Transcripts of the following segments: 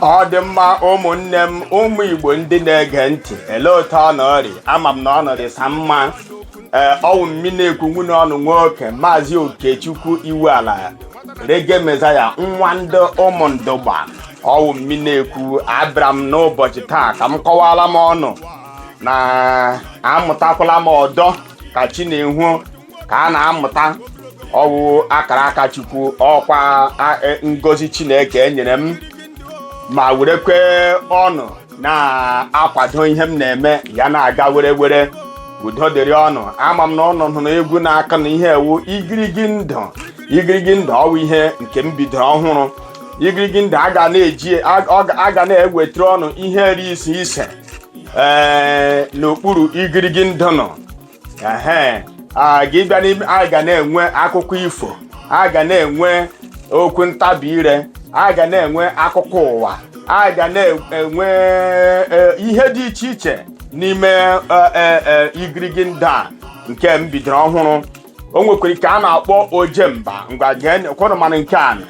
ọ dị mma ụmụnne m ụmụ igbo ndị na-ege ntị ele otu ụnụ rị ama m na ụnụ rịsa mma ee ọwụ mmi na-ekwu nwanne ụnụ nwoke maazị okechukwu iwuala reggae messiah nwa ndị ụmụndụgba ọwụ mmi na-ekwu abịara m n'ụbọchị taa ka m kọwara m ụnụ na amụtakwala m ọdọ ka chi na-ehu ka a na-amụta ọwụ akara aka chukwu ọkwa e, ngozi chineke enyere m ma werekwe ụnụ na-akwado ihe m na-eme ya na-aga were were udo dịrị ụnụ ama m na ụnụ hụrụ egwu na-aka na ihe a wụ igirigi ndụ igirigi ndụ ọwụ ihe nke m bidoro ọhụrụ igirigi ndụ a ga na-eji a ga na-ewetara ụnụ ihe rị ise ise ee n'okpuru igirigi ndụ nọ ehe gị bịa n'ime a ga na-enwe akụkọ ifo a ga na-enwe okwu ntabi ire a ga na-enwe akụkọ ụwa a ga na-enwe e, ihe dị iche iche n'ime e, e, e, igirigi ndụ a nke m bidoro ọhụrụ o nwekwara nke a na-akpọ ojemba ngwa gee kwanụ mana nke a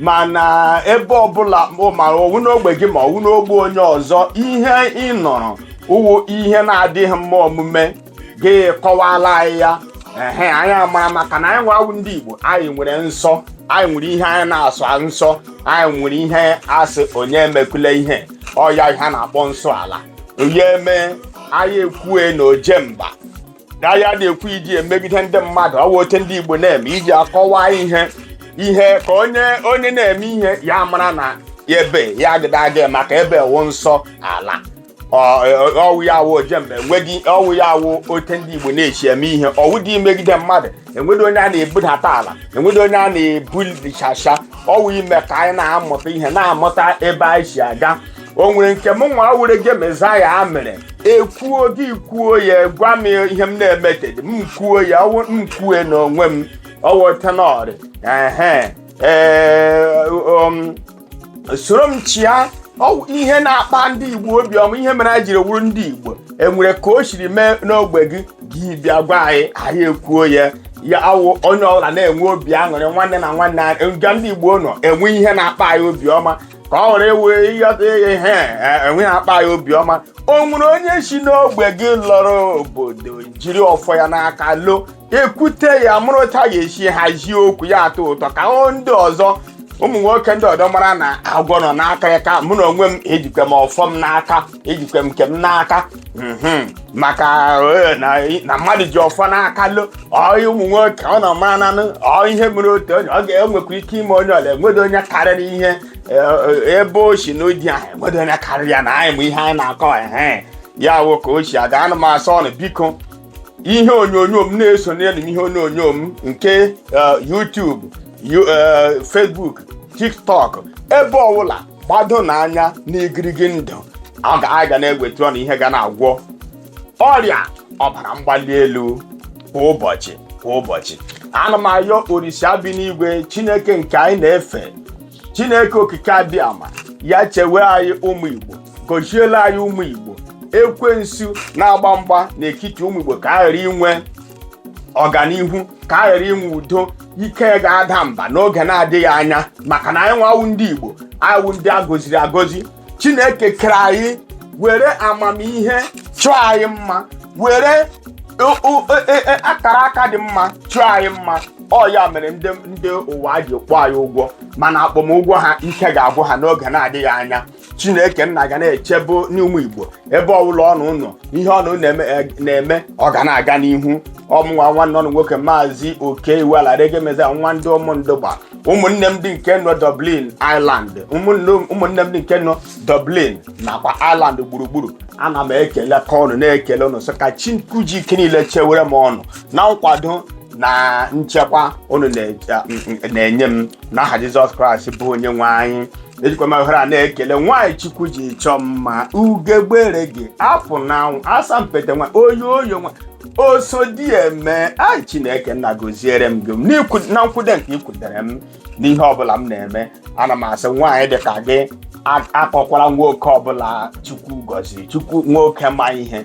mana ebe ọbụla ma ọwụ n'ogbe gị ma ọwụ n'ogbe onye ọzọ ihe ị nụrụ wụ ihe na-adịghị mma omume gị kọwala anyị ya ehe anyị amara maka na anyị nwa wụ ndị Igbo anyị nwere nsọ anyị nwere ihe anyị na-asọ nsọ anyị nwere ihe a sị onye emekule ihe ọ ya ihe a na-akpọ nsọ ala onye mee anyị ekwue na ojemba na ya na-ekwu iji emegide ndị mmadụ ọwụ otu ndị Igbo na-eme iji akọwa ihe ihe ka onye onye na-eme ihe ya mara na ya ebe ya agadị aga maka ebe wụ nsọ ala Ọ- ọ- ọwụ ya wụ ojemba enweghị ọwụ ya wụ otu ndị Igbo na-esi eme ihe ọwụdị imegide mmadụ enweghị onye a na-ebudata ala enweghị onye a na-ebulichasha ọwụ ime ka anyị na-amụta ihe na-amụta ebe anyị si aga o nwere nke m nwa wụ reggae messiah mere ekwuo gị kwuo ya gwa m ihe m na-emetedị m kwuo ya ọwụ m kwue n'onwe m ọwọtanọrị ehe ee um, soro m chịa ọwụ ihe na-akpa ndị igbo obiọma ihe mere anyị jiri wụrụ ndị igbo enwere ka o siri mee n'ogbe gị gị bịa gwa anyị anyị ekwuo ya ya awụ onye ọbụla na-enwe obi aṅụrị nwanne na nwanne anyị nga ndị igbo nọ enwe ihe na-akpa anyị obiọma ka ọ wụrụ wee ịghọta ihe ihe a, enweghị akpa ya obiọma o nwere onye si n'ogbe gị lọrọ obodo jiri ọfọ ya n'aka lọ e kwute ya mụrụ otu a ga-esi hazie okwu ya atọ ụtọ ka ndị ọzọ ụmụ nwoke ndị ọdọ mara na agwọ nọ n'akịrịka mụ na onwe m ejikwa m ọfọ m n'aka ejikwa m nke m n'aka mhm, maka eh, na na mmadụ ji ọfọ n'aka lo ọyị ụmụ nwoke ọ nọ mara nanụ ọ ihe mere otu onye ọ ga-enwekwa ike ime onye ọla enwedo onye karịrị ihe eh, eh, ebe o si n'ụdị ahụ enwedo onye karịrị ya na anyị ma ihe anyị na-akọ ehe ya wụ ka o si aga ana m asị ọnụ biko ihe onyonyo m na-eso n'elu m ihe onyonyo m nke eh, YouTube, Yu- eh, Facebook, TikTok ebe ọbụla gbadonụ anya n'igirigi ndụ a ga- anyị ga na-ewetara ọnụ ihe ga na-agwọ ọrịa ọbara mgbali elu kwa ụbọchị kwa ụbọchị ana m ayọ orisa bi n'igwe chineke nke anyị na-efe chineke okike abịama ya chewe anyị ụmụ igbo gọziela anyị ụmụ igbo ekwensu na-agba mgba n'etiti ụmụ igbo ka a ghara inwe ọganihu ka a ghara inwe udo ike ga-ada mba n'oge na-adịghị anya maka na anyị nwa wụ ndị Igbo anyị wụ ndị a goziri agozi Chineke kere anyị were amamihe chọọ anyị mma were o- o- e- e- e- akara aka dị mma chọọ anyị mma ọ ya mere ndị ndị ụwa ji kpọọ anyị ụgwọ mana akpọmụgwọ ha ike ga-agwụ ha n'oge na-adịghị anya chineke nna ga na-echebe ọnụ ụmụ igbo ebe ọbụla ọnụ nọ ihe ọnụ na-eme eh, na-eme ọ ga na-aga n'ihu ọ mụ nwa nwanne ọnụ nwoke maazị oke iwu alarege meza nwa ndị ụmụndụgba ụmụnne m ndị nke nọ dublin ireland ụmụnne ụmụnne m ndị nke nọ dublin nakwa ireland gburugburu ana m ekelekwa ọnụ na-ekele ụnụ sị ka chukwu ji ike niile chewere m ọnụ na nkwado na nchekwa ụnụ na- na-enye m n'aha jizọs kraịst bụ onye nwe anyị ejikwa m ohere a na-ekele nwaanyị chukwu ji chọọ m mma ugegbere gị apụ n'anwụ asampete nwa oyoyo nwa oso di eme ai chineke nna gọziere m gị n'ikwu- na nkwude nke i kwudere m n'ihe ọbụla m na-eme ana m asị nwaanyị dị ka gị a- akọkwala nwoke ọbụla chukwu gọziri chukwu nwoke ma ihe